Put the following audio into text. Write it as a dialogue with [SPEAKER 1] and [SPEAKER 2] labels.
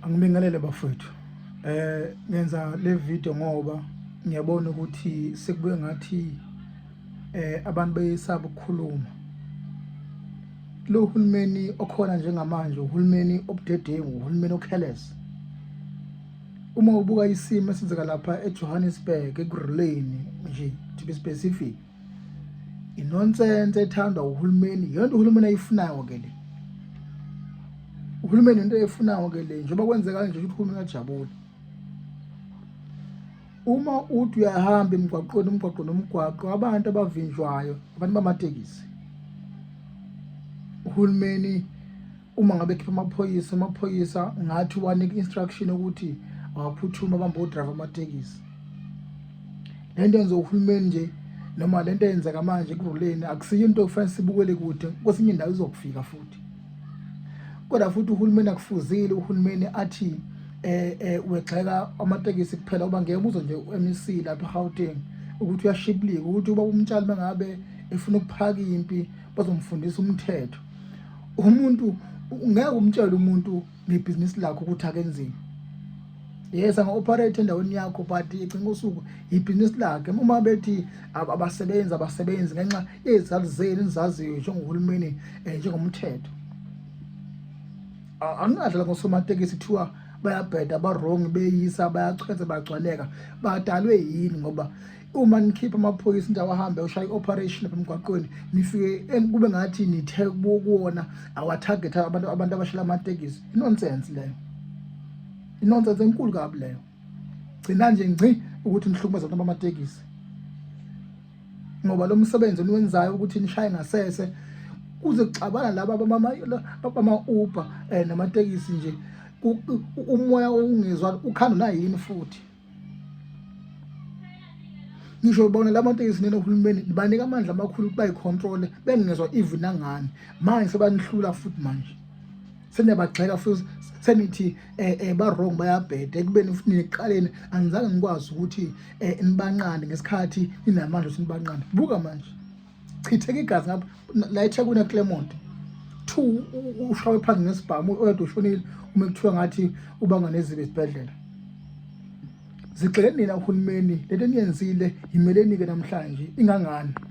[SPEAKER 1] Angibingelele bafowethu. Eh ngenza le video ngoba ngiyabona ukuthi sekubuye ngathi eh abantu beyisaba ukukhuluma. Lo hulumeni okhona njengamanje uhulumeni obudedengu, uhulumeni okheleza. Uma ubuka isimo esenzeka lapha eJohannesburg ekuruleni nje to be specific inonsense ethandwa uhulumeni yonto uhulumeni ayifunayo ke le uhulumeni into efunayo ke le njengoba kwenzeka kanje ukuthi uhulumeni ajabule uma uthi uyahamba emgwaqweni umgwaqo nomgwaqo abantu abavinjwayo abantu bamatekisi uhulumeni uma ngabe khipha amaphoyisa amaphoyisa ngathi wanika instruction ukuthi awaphuthuma abambe odriver amatekisi le nto yenza uhulumeni nje noma le nto eyenzeka manje kuruleni akusiyo into okufanele sibukele kude kwesinye indawo izokufika futhi kodwa futhi uhulumeni akufuzile uhulumeni athi eh eh wegxeka amatekisi kuphela uba ngeke uzo nje uMC lapha eGauteng ukuthi uyashiplika ukuthi uba umtshali mangabe efuna ukuphaka impi bazomfundisa umthetho umuntu ngeke umtshele umuntu ngebhizinisi lakho ukuthi akenzini yes anga-operate endaweni yakho but icinga usuku yibhizinisi lakhe uma bethi abasebenzi abasebenzi ngenxa yezizalo zenu nizaziyo njengohulumeni um njengomthetho angingadlala ngosomatekisi kuthiwa bayabheda barong beyisa bayachwenza bagcwaneka badalwe yini ngoba uma nikhipha amaphoyisa into awahambe ushaya i-operation lapha emgwaqweni nifike kube ngathi nithe kuwona awatarget abantu abantu abashela amatekisi inonsense leyo inonsense enkulu kabi leyo gcina nje ngci ukuthi nihlukumeza abantu bamatekisi ngoba lo msebenzi oniwenzayo ukuthi nishaye ngasese kuze kuxabana laba bama-uber um namatekisi nje umoya owungezwa ukhandwa nayini futhi ngisho bona la matekisi nenohulumeni nibanika amandla amakhulu ukuthi bayikhontrole bengezwa even nangani manje sebanihlula futhi manje seniyabagxeka futhi senithi um eh, eh, ba-wrong bayabheda ekubeni futhi niqaleni angizange ngikwazi ukuthi um nibanqande ngesikhathi ninamandla ukuthi nibanqande buka manje chitheka igazi ngapha la eThekwini eClermont two ushawe phansi ngesibhamu oyedwa ushonile uma kuthiwa ngathi ubanga nezibe esibhedlela zigxile nina uhulumeni lento eniyenzile yimeleni-ke namhlanje ingangani